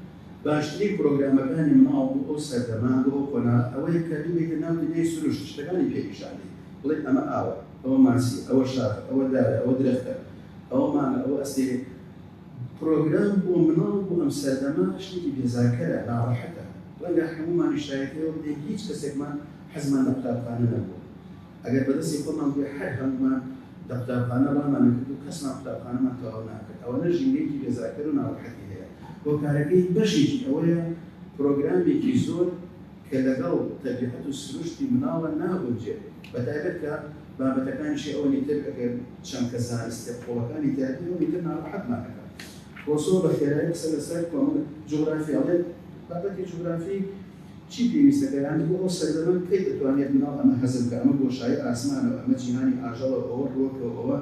A: باشترین پرۆگرامەکانی مناڵ بۆ ئەو سەردەمە بۆ ئەو قۆناغە ئەوەیە کە ببیتە ناو دنیای سروشت شتەکانی پێ نیشان دەی بڵێ ئەمە ئاوە ئەوە ماسیە ئەوە شاخە ئەوە دارە ئەوە درەختە ئەوە مانگە ئەوە ئەستێرەیە پرۆگرام بۆ مناڵ بۆ ئەم سەردەمە شتێکی بێزارکەرە ناڕەحەتە ڕەنگە هەموومانیش شایەتی ئەوە بدەین هیچ کەسێکمان حەزمان لە قوتابخانە نەبووە. ئەگەر بە دەستی خۆمان بووێ هەر هەموومان لە قوتابخانە ڕامان ئەکرد و کەسمان قوتابخانەمان تەواو ناکرد، ئەوەنە ژینگەیەکی بێزارکەر و ناڕەحەتی هەیە. هۆکارەکەی بەشێکی ئەوەیە پرۆگرامێکی زۆر کە لەگەڵ تەبیعەت و سروشتی مناڵە ناگونجێت، بە تایبەت کە بابەتەکانیشی ئەوەنی تر ئەگەر چەمکە زانستیە قوڵەکانی تیا بێ ئەوەنی تر ناڕەحەتمان ئەکات. کۆسۆ بە خێرایی قسە لە سەر کۆمەڵ جوغرافی ئەڵێت، بابەتی جوغرافی، چی پێویستە پێدانە بۆ ئەو سەردەمە؟ کەی دەتوانێت مناڵ ئەمە هەزم بکات؟ ئەمە بۆشایی ئاسمانە و ئەمە جیهانی ئاژەڵە و ئەوە ڕووەکە و ئەوە.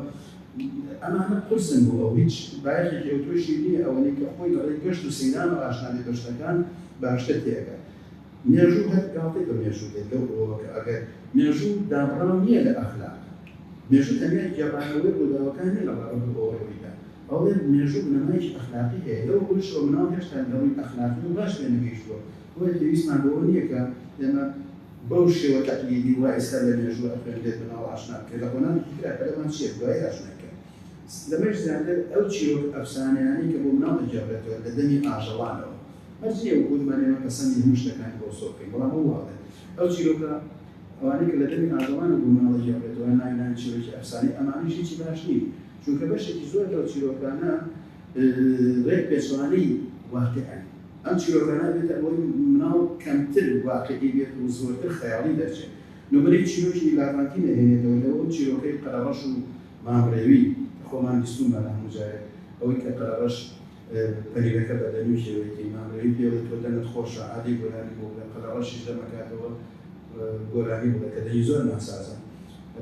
A: ئەمانە قورسن بۆ ئەو، هیچ بایەخێکی ئەوتۆشی نییە، ئەوەنەی کە خۆی لە ڕێی گەشت و سەیرانەوە ئاشنا بێت بە شتەکان، باشتر تێئەگات. مێژوو هەر گاڵتەی بە مێژوو دێت لەو ڕووەوە کە ئەگەر مێژوو دابڕاو نییە لە ئەخلاق، مێژوو تەنیا گێڕانەوەی ڕووداوەکان نییە لە ڕابردوو بۆ ڕوویدا، ئەڵێت مێژوو بنەمایەکی ئەخلاقی هەیە، لەو ڕوویشەوە مناڵ هێشتا لە ڕووی ئەخلاقییەوە باش پێ نەگەیشتووە، بۆیە پێویستمان بەوە نییە کە ئێمە بەو شێوە تەقلیدی وا ئێستا لە مێژوو ئەخوێنرێت مناڵ ئاشنا بکەین، لە قۆناغێکی ترا پەلەمان چییە دوایی ئاشنای بکەین. لەمەش زیاتر ئەو چیرۆک ئەفسانەیانەی کە بۆ مناڵ دەگێڕرێتەوە لە دەمی ئاژەڵانەوە، مەرج نییە وەکو وتمان ئێمە پەسەندی هەموو شتەکانی بۆ سۆ بکەین، بەڵام ئەو وا ئەڵێت ئەو چیرۆکە ئەوانەی کە لە دەمی ئاژەڵانەوە بۆ مناڵ دەگێڕرێتەوە ناوی ناوی چیرۆکی ئەفسانەی ئەمانەش هیچی باش نین، چونکە بەشێکی زۆر لەو چیرۆکانە ڕێک پێچەوانەی واقیعن، ئەم چیرۆکانە ئەبێتە ئەوەی مناڵ کەمتر واقیعی بێت و زۆرتر خەیاڵی دەرچێت، نمونەی چیرۆکی لاڤانتی دەهێنێتەوە لە ئەو چیرۆکەی قەرەڕەش و مامڕێوی کە خۆمان بیستومانە هەموو جارێک ئەوەی کە قەرەڕەش پەیرەکە بە دەمی ژێوێتی ماملێی پێڵێ تۆ دەمت خۆشە ئادەی گۆرانی بۆ بڵێ قەلە ڕەشیش دەمەکاتەوە گۆرانی بڵێ کە دەنگی زۆر ناسازە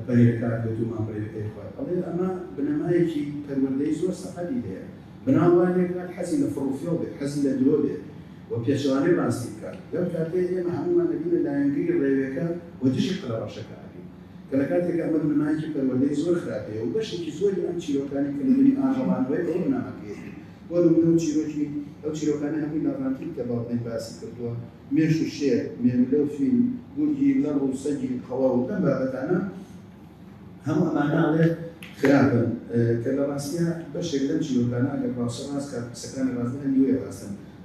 A: پەیرەکە ئەدوێت و ماملێەکەی خوات ئەڵێ ئەمە بنەمایەکی پەروەردەی زۆر سەقەتی هەیە مناڵ وا لێکات حەزی لە فڕ و فێڵ بێت حەزی لە درۆ بێت و پێچەوانەی ڕاستی بکات لەو کاتەی ئێمە هەموومان ئەبینە لایەنگری ڕێوێکە و دژی قەلە ڕەشەکە ئەبین. کە لە کاتێکا ئەمە بنەمایەکی پەروەردەی زۆر خراپیە و بەشێکی زۆری ئەم چیرۆکانەی کە نمونەی ئاژەڵانەوەی ئەوە بنەماکەیەتی بۆ نمونە و چیرۆکی ئەو چیرۆکانەی هەمووی لاڤانتین کە باوکمن باسی کردووە مێش و شێر، مێملە و فیل، گورگی لەڕ و سەگی قەڵەو لەم بابەتانە هەموو ئەمانە ئەڵێ خراپن کە لە ڕاستیا بەشێک لەم چیرۆکانە ئەگەر ڕاست و ڕاست کات قسەکانی ڕاست بکەن نیوەی ڕاستن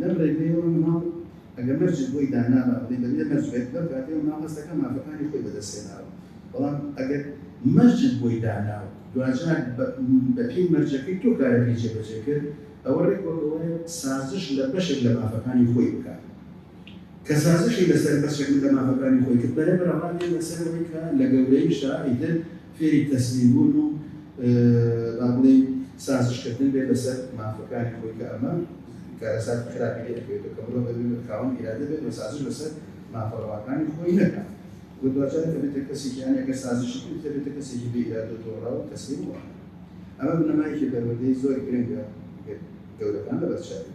A: لەم ڕێگەیەوە مناڵ ئەگەر مەرجت بۆی دانابا بڵێی دەبێ مەرج بێت لەو کاتەی مناڵ هەست دەکا مافەکانی خۆی بەدەست هێناوە بەڵام ئەگەر مەرجت بۆی دانا و دواجار بە پێی مەرجەکەی تۆ کارەکەی جێبەجێ کرد ئەوە ڕێک وەک ئەوەیە سازش لە بەشێک لە مافەکانی خۆی بکات کە سازشی لەسەر بەشێک لە مافەکانی خۆی کرد بەرەبەرە ڕادێ لەسەر ئەوەی کە لە گەورەیشدا ئیتر فێری تەسلیم بوون و با بڵێین سازش کردن بێت لەسەر مافەکانی خۆی کە ئەمە کارەساتی خراپی لێ ئەکەوێتەوە کە مرۆڤ دەبێت خاوەن ئیرادە بێت و سازش لەسەر مافە ڕەواکانی خۆی نەکات و دواجار دەبێتە کەسێکی یان ئەگەر سازشی کرد دەبێتە کەسێکی بێ ئیرادە و تۆراو و تەسلیم و ئەمە بنەمایەکی پەروەردەی زۆر گرنگە گەورەکان لەبەر چاوی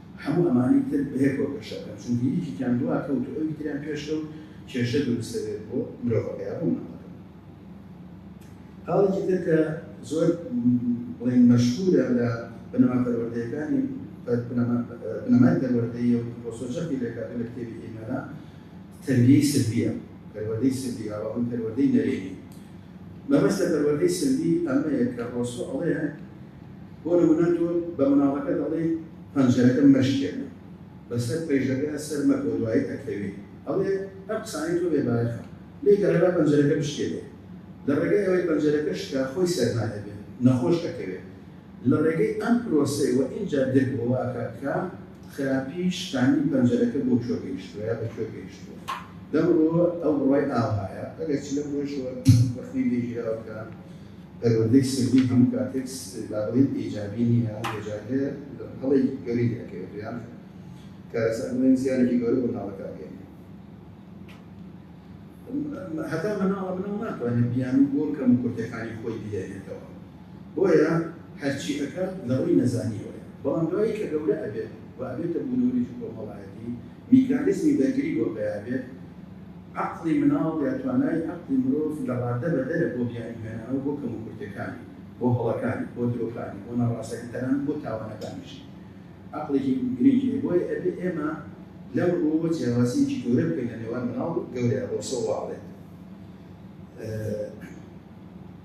A: هەموو ئەمانەی تر بەیەکەوە گەشە بکەن، چونکە یەکێکیان دوا کەوت و ئەوی تریان پێش کەوت، کێشە دروست دەبێت بۆ مرۆڤەکە یا بۆ ماددەکە. خاڵێکی تر کە زۆر بڵێین مەشهوورە لە بنەما پەروەردەیەکانی بنەمای پەروەردەیی و ڕۆسۆ جەختی لێ کاتوو لە کتێبی ئیمەرە تەربیەی سلبیە، پەروەردەی سلبی یا بەڵکو پەروەردەی نەرێنی. مەبەست لە پەروەردەی سلبی ئەمەیە کە ڕۆسۆ ئەڵێ، بۆ نمونە تۆ بە مناڵەکە دەڵێیت پەنجەرەکە مەشکێنە، بەسەر پەیژەکە سەر مەکەوە دوایی ئەکەوێ، ئەڵێ ئەم قسانەی تۆ بێ بایەخە، لێ گەڕێ با پەنجەرەکە بشکێنێ، لە ڕێگای ئەوەی پەنجەرەکە شکا خۆی سەرما دەبێ، نەخۆش ئەکەوێ. لە ڕێگەی ئەم پرۆسەی وە ئینجا درک بۆ واکا کە خراپی شکاندنی پەنجەرەکە بۆ کوێ گەیشتوە یا بە کوێ گەیشتوە. لەم ڕووەوە ئەو بڕوای ئاوهایە، ئەگەرچی لەم ڕووەشەوە وەختی لێ گیراوە کە، پەروەردەی سەردی هەموو کاتێک با بڵێین ئیجابی نییە، هەندێکجار هەیە هەڵەی گەورەی لێ ئەکەوێت و یان کارەسات بڵێین زیانێکی گەورە بۆ مناڵەکە ئەگەیەنێت. هەتا مناڵە مناڵ ناتوانێت بیانوو بۆ کەموکورتییەکانی خۆی بگەیەنێتەوە، بۆیە هەرچی ئەکات لەڕووی نەزانییەوەیە، بەڵام دوایی کە گەورە ئەبێت و ئەبێتە بوونەوەرێکی کۆمەڵایەتی، میکانیزمی بەرگری بۆ پەیا بێت، عەقڵی مناڵ یا توانای عەقڵی مرۆڤ لە ڕاددە بەدەرە بۆ بیانوهێنانەوە بۆ کەموکورتیەکانی، بۆ هەڵەکانی، بۆ درۆکانی، بۆ ناڕاستەکانی تەنانەت بۆ تاوانەکانیش عەقڵێکی گرنگی هەیە بۆیە ئەبێ ئێمە لەم ڕوەوە جیاوازیەکی گەورە بکەین لە نێوان مناڵ و گەورە ڕۆسۆ واڵێت.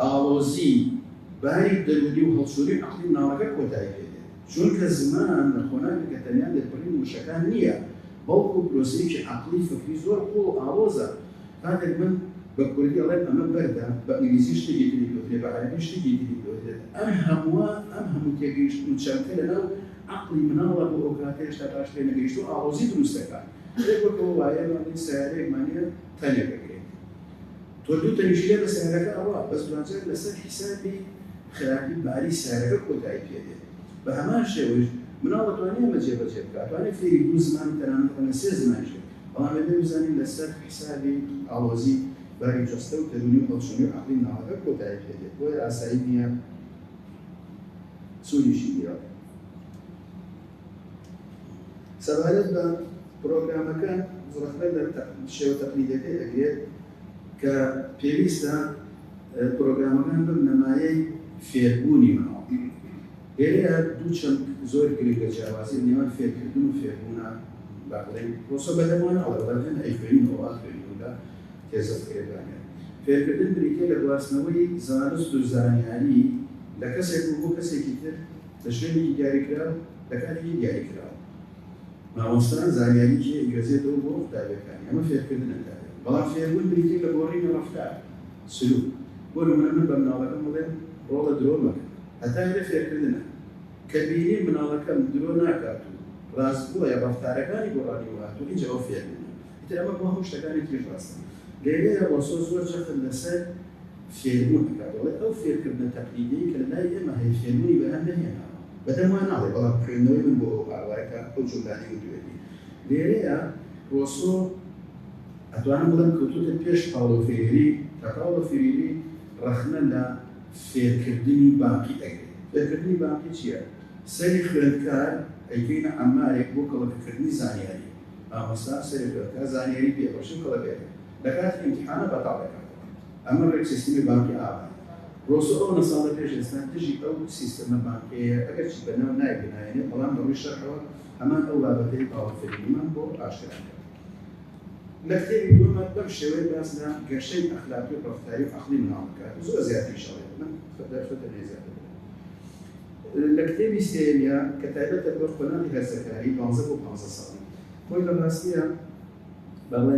A: ئاڵۆزی، باری دەروونی و هەڵچوونی عەقڵی مناڵەکە کۆتایی پێ دێت، چونکە زمان لە قۆناغێکە تەنیا لێکبڕینی وشەکان نییە، بەڵکو پرۆسەیەکی عەقڵی فکری زۆر قووڵ و ئاڵۆزە، کاتێک من بە کوردی ئەڵێم ئەمە بەردە، بە ئینگلیزی شتێکی تری دۆترێت، بە عەرەبی شتێکی تری دۆترێت، ئەم هەمووە، ئەم هەموو تێگەیشتن و چەمکە لەناو عەقڵی مناڵا بۆ ئەوکاتە هێشتا باش پێ نەگەیشتووە ئاڵۆزی دروست دەکات، ئەرێ بۆ تۆ وایە، با بڵێین سەیارەیەکمان هەیە تەنێک ئەگرێت، تۆ دوو تەنیشت لێ بە سەیارەکە ئەڕوا بەس دوانجار لەسەر حیسابی خراپی باری سەیارەکە کۆتایی پێ دێ بە هەمان شێوەیش مناڵ ئەتوانێ ئەمە جێ بەجێ بکا ئەتوانێ فێری دوو زمان و تەنانەت ئەمە سێ زمانیش بێ بەڵام ئەبێ بزانین لەسەر حیسابی ئاڵۆزی باری جەستە و دەروونی و هەڵچونی و عەقڵی مناڵەکە کۆتایی پێ دێ بۆیە ئاسایی نیە سوودیشی بیەوە. سەبارەت بە پرۆگرامەکە ڕەخنە لە شێوە تەقلیدەکەی ئەگرێت کە پێویستە پرۆگرامەکان ببنە مایەی فێربوونی مناڵ. لێرەیا دوو چەمک زۆر گرنگە جیاوازی لەنێوان فێرکردن و فێربوونە با بڵێین پرۆسە بەدەمەوە نەڵێ بەڵام هێندە ئەیخوێنینەوە وا خوێنی و لە تێزە فکرێک دانێن. فێرکردن بریتییە لە گواستنەوەی زانست و زانیاری لە کەسێک و بۆ کەسێکی تر. لە شوێنێکی دیاریکراو لە کاتێکی دیاریکراو. مامۆستا زانیاری جێ ئەگوێزێتەوە بۆ قوتابیەکانی، ئەمە فێرکردنە کارێک، بەڵام فێربوون بریتیە لە گۆڕینی ڕەفتار، سلوک، بۆ نمونە من بە مناڵەکەم بڵێم ڕۆڵە درۆ مەکە، هەتا ئەوێ فێرکردنە، کە بینیم مناڵەکەم درۆ ناکات و ڕاست گۆیە ڕەفتارەکانی گۆڕانی بۆ هاتوە ئینجا ئەو فێربوونە، ئیتر ئەمە بۆ هەموو شتەکانی تریش ڕاستە، لێرەیە ڕۆسۆ زۆر جەخت لەسەر. فێربوون ئەکات، دەڵێت، ئەو فێرکردنە تەقلیدیەی کە لەلای ئێمە هەیە فێربوونی بەرهەم نەهێناوە، بەدەم وا ناڵێت، بەڵام خوێندنەوەی من بۆ ئەو هاوایە کە ئەو جۆلانی وتویەتی. لێرەیە ڕۆسۆ ئەتوانم بڵێم کەوتووەتە پێش پاولۆ فریری، کە پاولۆ فریری ڕەخنە لە فێرکردنی بانقی ئەگرێت. فێرکردنی بانقی چیە؟ سەری خوێندکار ئەیکەینە عەمارێک بۆ کەڵەکەکردنی زانیاری، مامۆستا سەری خوێندکار زانیاری پێ بەخشی و کەڵەکەیەکات، لەکاتی ئیمتیحانا بەتاڵ ئەکاتەوە. ئەمە ڕێک سیستمی بانکی ئاوایە. بۆ سۆ ئەو نەساڵە پێش ئێستا دژی ئەو سیستمە بانکیەیە ئەگەرچی بە ناو نایەک بناهێنێت بەڵام لە ڕووی شەرعەوە هەمان ئەو بابەتەی پاوڵ فریدمان بۆ ئاشکرا کرد لە کتێبی دووەمە بەم شێوەیە باس لە گەشەی ئەخلاقی و ڕەفتاری و عەقڵی مناڵ دەکات زۆر زیاتریش ئەڵێت من دەرفەتم هەیە زیاتر بڵێم لە کتێبی سێیەمیا کە تایبەتە بە قۆناغی هەرزەکاری دوانزە بۆ پانزە ساڵی خۆی لە ڕاستیە بەڵێ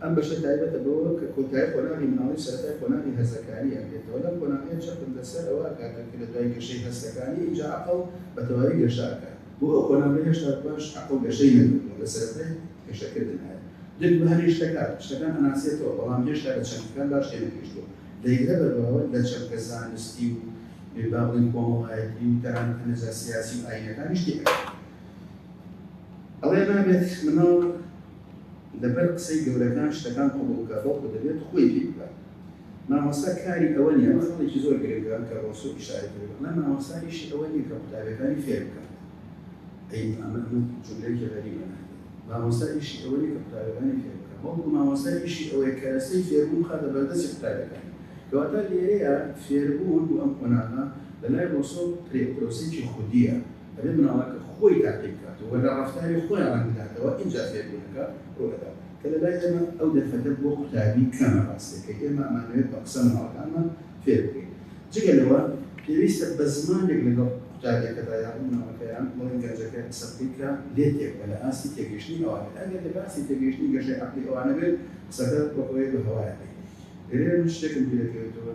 A: ئەم بەشە تایبەتە بەوە کە کۆتایی قۆناغی مناڵی و سەرەتای قۆناغی هەرزەکاری ئەگرێتەوە لەم قۆناغەیە چەقت لەسەر ئەوە ئەکاتەوە کە لە دوای گەشەی هەستەکانی ئینجا عەقڵ بە تەواوی گەشە ئەکات بۆ ئەو قۆناغەی هێشتا باش عەقڵ گەشەی نەکردووە لە سەرەتای گەشە کردنایە دەک بە هەنێ شتەکات شتەکان ئەناسێتەوە بەڵام هێشتا لە چەمکەکان باش تێنەگەیشتووە دەیگرە بەر باوەر لە چەمکە زانستی و با بڵێین کۆمەڵایەتی و تەنانەت هەنێجا سیاسی و ئاینەکانیش تێئەگات ئەڵێ نابێت مناڵ لەبەر قسەی گەورەکان شتەکان قبوڵ بکات بەڵکو دەبێت خۆی پێی بکات مامۆستا کاری ئەوە نیە ئەمە خەڵێکی زۆر گرنگە کە ڕۆسو ئیشارەی پێ دەکات مام مامۆستا ئیشی ئەوە نیە کە قوتابیەکانی فێر بکات ئەی ئەمە ئەمە جملەیەکی غەریبە مامۆستا ئیشی ئەوە نیە کە قوتابیەکانی فێر بکات بەڵکو مامۆستا ئیشی ئەوەیە کەرەسەی فێربوون بخاتە بەردەستی قوتابیەکان کەواتە لێرەیە فێربوون بۆ ئەم قۆناغە لەلای ڕۆسۆ پرۆسەیەکی خودیە ئەبێت مناڵەکە خۆی تاقی بکات و لە ڕەفتاری خۆیان ڕەنگ بداتەوە ئینجا فێربوونەکە ڕوو دەدات کە لە لای ئێمە ئەو دەرفەتە بۆ قوتابی کەمە ڕاستەکەی ئێمە ئەمانەوێت بە قسە مناڵەکانمان فێر بکەین جگە لەوە پێویستە بە زمانێک لەگەڵ قوتابیەکەدا یاخود مناڵەکە یان بڵێن گەنجەکە قسە بکەیت کە لێت تێبگات لە ئاستی تێگەیشتنی ئەوان بێت ئەگەر لە باسی تێگەیشتنی گەشەی عەقڵی ئەوانە بێت قسەکە وەک ئەوەیە بە هەوایە دێت گەر ئێمە شتێکم بیرەکەوێتەوە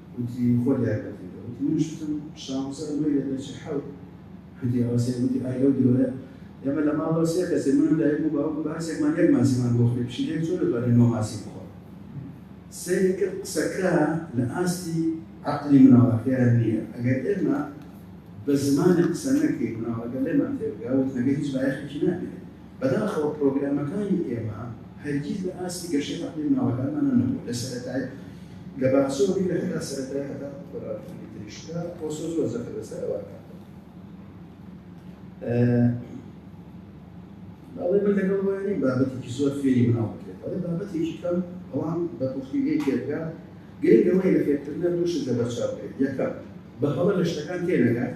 A: گوتی خۆ دیارکردیتەوە گوتی منیش وتم شام سەر مەی لە دەچی حەوت گوتی ئەوە سێ گوتی ئای لەو درۆیە ئێمە لە ماڵەوە سێ کەسێ من و دایکم و باوکم بە هەرسێکمان یەک ماسیمان بۆ خوێ پشیلەیەک چۆن دەتوانین نۆ ماسی بخۆ سەیری کرد قسەکە لە ئاستی عەقلی مناڵەکەیان نییە ئەگەر ئێمە بە زمانی قسە نەکەی مناڵەکە لێمان تێبگا وتنەکە هیچ بایەخێکی نابێت بەداخەوە پرۆگرامەکانی ئێمە هەرگیز لە ئاستی گەشەی عەقڵی مناڵەکانمانە نەبووە لە سەرەتای لە باخچەوە بیگرە هەتا سەرەتای هەتا قۆناغەکانی تریش کە پۆستە زۆر زەقە لەسەر ئەوە ئەڵێ من لەگەڵ وایە نیم بابەتێکی زۆر فێری مناڵ بکرێت ئەڵێ بابەتێکی کەم ئەوان بە پوختیگەی تێبگا گرنگ لەوەی لە فێرکردنە دوو شت لەبەرچاو بێت یەکەم بە هەڵە لە شتەکان تێنەگات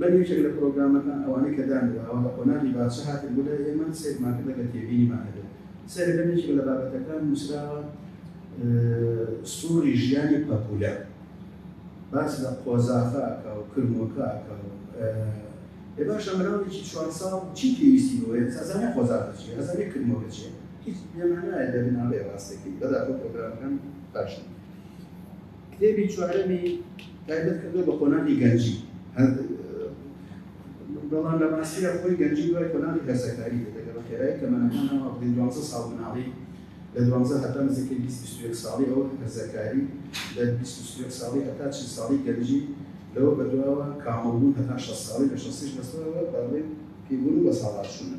A: بەر یەکێک لە پرۆگرامەکان ئەوانەی کە دانراوە لە قۆناغی باچە هاتن بۆ لای ئێمە سەیرمان کرد ئەگەر تێبینیمان هەبێت سەیرە کەن یەکێک لە بابەتەکان نووسراوە سووڕی ژیانی پەپوولە باس لە قۆزاخە ئەکا و کرمۆکە ئەکا و ئێ باشە مناڵێکی چوار ساڵ چی پێویستی بۆیە ئەزانێ قۆزاخە چیە ئەزانێ کرمۆکە چیە هیچ پێمان نایە دەبناڵێ ڕاستەکەی بەداخەوە پرۆگرامەکان باشن کتێبی چوارەمی تایبەت کردووە بە قۆناغی گەنجی بەڵام لە ڕاستیدا خۆی گەنجی دوای قۆناغی هەرزەکاری دەگەڵ خێرای تەمەنەکانەوە بڵین دوازدە ساڵ مناڵی لە دوازدە هەتا نزیکەی بیست بیست و یەک ساڵی ئەو هەرزەکاری لە بیست بیست و یەک ساڵی هەتا چل ساڵی گەنجی لەوە بەدواوە کامڵبوون هەتا شەست ساڵی لە شەستیش بەسەرەوە بەڵێ پێبوون و بەساڵاچوونە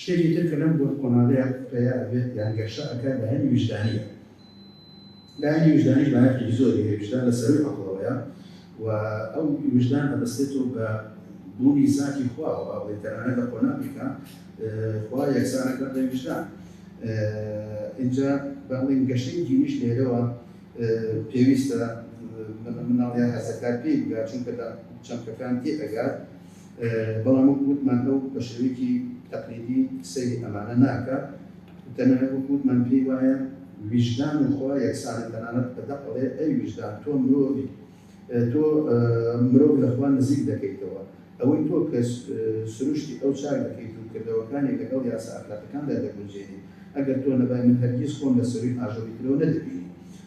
A: شتێکی تر کە لەم گۆن قۆناغەیا پەیا ئەبێت یان گەشە ئەکات لایەنی ویژدانیە لایەنی ویژدانیش بایەخێکی زۆری هەیە ویژدان لە سەرووی عەقڵەوەیە و ئەو ویژدان ئەبەستێتەوە بە بوونی زاتی خواوە با بڵێین تەنانەت لە قۆناغێکا خوا یەکسانە کە بڵێین ویژدان ئینجا با بڵێین گەشەی دینیش لێرەوە پێویستە مناڵ یان هەرزەکار پێی بگات چونکە لە چەمکەکان تێ ئەگات بەڵام وەکو وتمان ئەو بە شێوەیەکی تەقلیدی سەیری ئەمانە ناکات و تەنانەت وەکو وتمان پێی وایە ویژدان و خوا یەکسانن تەنانەت بە دەق ئەڵێ ئەی ویژدان تۆ مرۆڤی تۆ مرۆڤ لە خوا نزیک دەکەیتەوە ئەوەی تۆ کە سروشتی ئەو چاک دەکەیت و کردەوەکانی لەگەڵ یاسا ئەخلاقیەکاندا دەگونجێنیت ئەگەر تۆ نەبای من هەرگیز خۆم لە سەرووی ئاژەڵی ترەوە نەدەبینی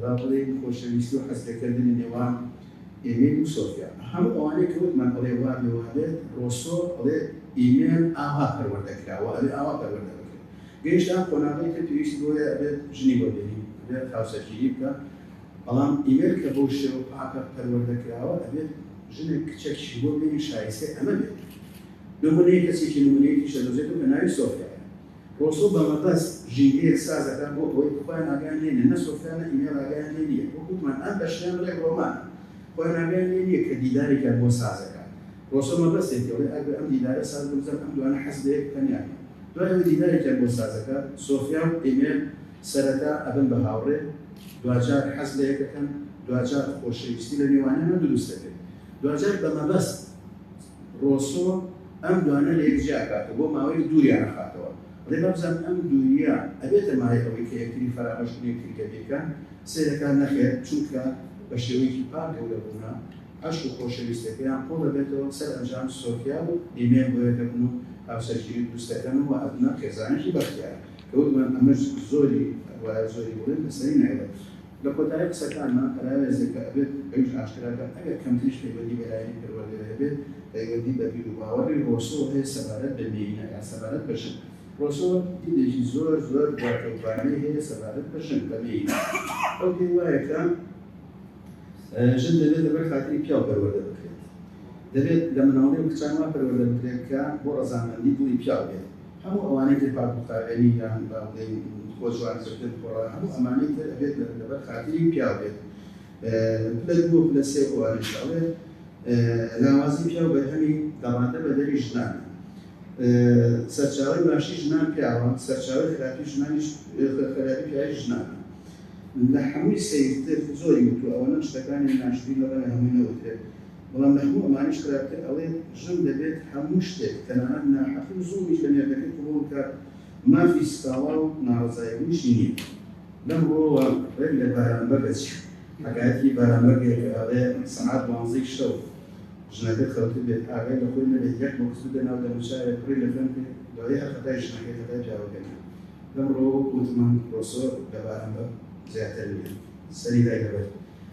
A: با بڵێین خۆشەویستی و حەزلێکردنی نێوان ئیمیل و سۆفیا. هەموو ئەوانەی کە وتمان ئەڵێ وا بێ وا بێت، ڕۆسۆ ئەڵێ ئیمیل ئاوا پەروەردە کرا و ئەبێ ئاوا پەروەردە بکرێت. گەیشتە ئەم قۆناغەی کە پێویستی بەوەیە ئەبێت ژنی وەرگری، ئەبێت هاوسەرگیری بکا، بەڵام ئیمیل کە بەو شێوە پاکە پەروەردە کراوە ئەبێت ژنێک کچەکیشی بۆ بێنی شایستەی ئەمە بێت. نموونەی کەسێکی نموونەیی تریشە دۆزێتەوە کە ناوی سۆفیایە. ڕۆسۆ بە مەبەست ژینگەیەک ساز دەکات بۆ ئەوەی خۆیان ئاگایان لێ نییە، نە سۆفیا نە ئیمێل ئاگایان لێ نییە، وەک وتمان ئەم بەشیان بڵێ ڕۆمانە، خۆیان ئاگایان لێ نییە کە دیدارێکیان بۆ ساز دەکات. ڕۆسۆ مەبەستێتی ئەوەی ئەگەر ئەم دیدارە ساز بکرێت ئەم دوانە حەز بە یەک بکەن یان نا. دوای ئەوەی دیدارێکیان بۆ ساز دەکات، سۆفیا و ئیمێل سەرەتا ئەبن بە هاوڕێ، دواجار حەز لە یەک دەکەن، دواجار خۆشەویستی لە نێوانیانەوە دروست دەبێت، دواجار بە مەبەست ڕۆسۆ ئەم دوانە لە یەک جیاکاتەوە بۆ ماوەیەک دووریان ئەخاتەوە ڕێ با بزانن ئەم دووریە ئەبێتە مایەی ئەوەی کە یەکتری فەرامۆش کن یەکتری کە بیرکەن سەیرەکان نەخێر چونکە بە شێوەیەکی پاک گەورە بوونە عەشق و خۆشەویستەکەیان قوڵ ئەبێتەوە سەر ئەنجام سۆفیا و ئیمێل بۆ یەک ئەبن و هاوسەرگیری دروست ئەکەن و وا ئەبنە خێزانێکی بەختیار کە وتمان ئەمەش زۆری وایە زۆری بڵێن لەسەری نایڵێ. لە کۆتایی قسەکانما پەراوێزێکە ئەبێت ئەویش ئاشکرا کەم ئەگەر کەمتریش پەیوەندی بە لایەنی پەروەردەیە هەبێت پەیوەندی بە بیر و باوەڕی ڕۆسۆ هەیە سەبارەت بە مێینە یان سەبارەت بە ژن ڕۆسۆ دیدێکی زۆر زۆر دواکەوتوانەی هەیە سەبارەت بە ژن بە مێینە ئەو پێی وایە کە ژن دەبێت لەبەر خاتری پیاو پەروەردە بکرێت دەبێت لە مناڵی و کچان وا پەروەردە بکرێت کە بۆ ڕەزامەندی دڵی پیاو بێت هەموو ئەوانەی تر پاک و خاوێنی یان با بڵێین خۆ جوان کردن پۆڕان هەموو ئەمانەی تر ئەبێت لەبەر خاتری پیاو بێت پلە دوو و پلە سێ ئەوانیش ئەڵێ لاوازی پیاو بەرهەمی گەڕاندە بە دەری ژنانە سەرچاوی باشی ژنان پیاوە سەرچاوی خراپی ژنانیش خراپی پیاوی ژنانە لە هەمووی سەیرتر زۆری وتو ئەوەنە شتەکانی ناشرین لەڕەنگە هەمووی نەوترێت بەڵام لە هەموو ئەمانەیش خراپتر ئەوەیە ژن دەبێت هەموو شتێک تەنانەت ناحەقی و زوڵمیش لە مێردەکەی قبوڵ بکات، مافی سکاڵا و ناڕەزایبوونیشی نییە. لەم ڕووەوە ڕێک لە بارام بەگەچ حەکایەتی بارام بەگێ کە ئەڵێ سەعات دوانزەی شەو ژنەکە خەوتبێت ئاگای لە خۆی نەبێت یەک بۆکس بدە ناو دەموچاوێ پڕی لە خوێن بکەی دوایی هەر خەتای ژنەکەی خەتای پیاوەکە نییە لەم ڕووەوە وتمان ڕۆسۆ لە بارام بەگ زیاتر نییە سەری دای لەبەر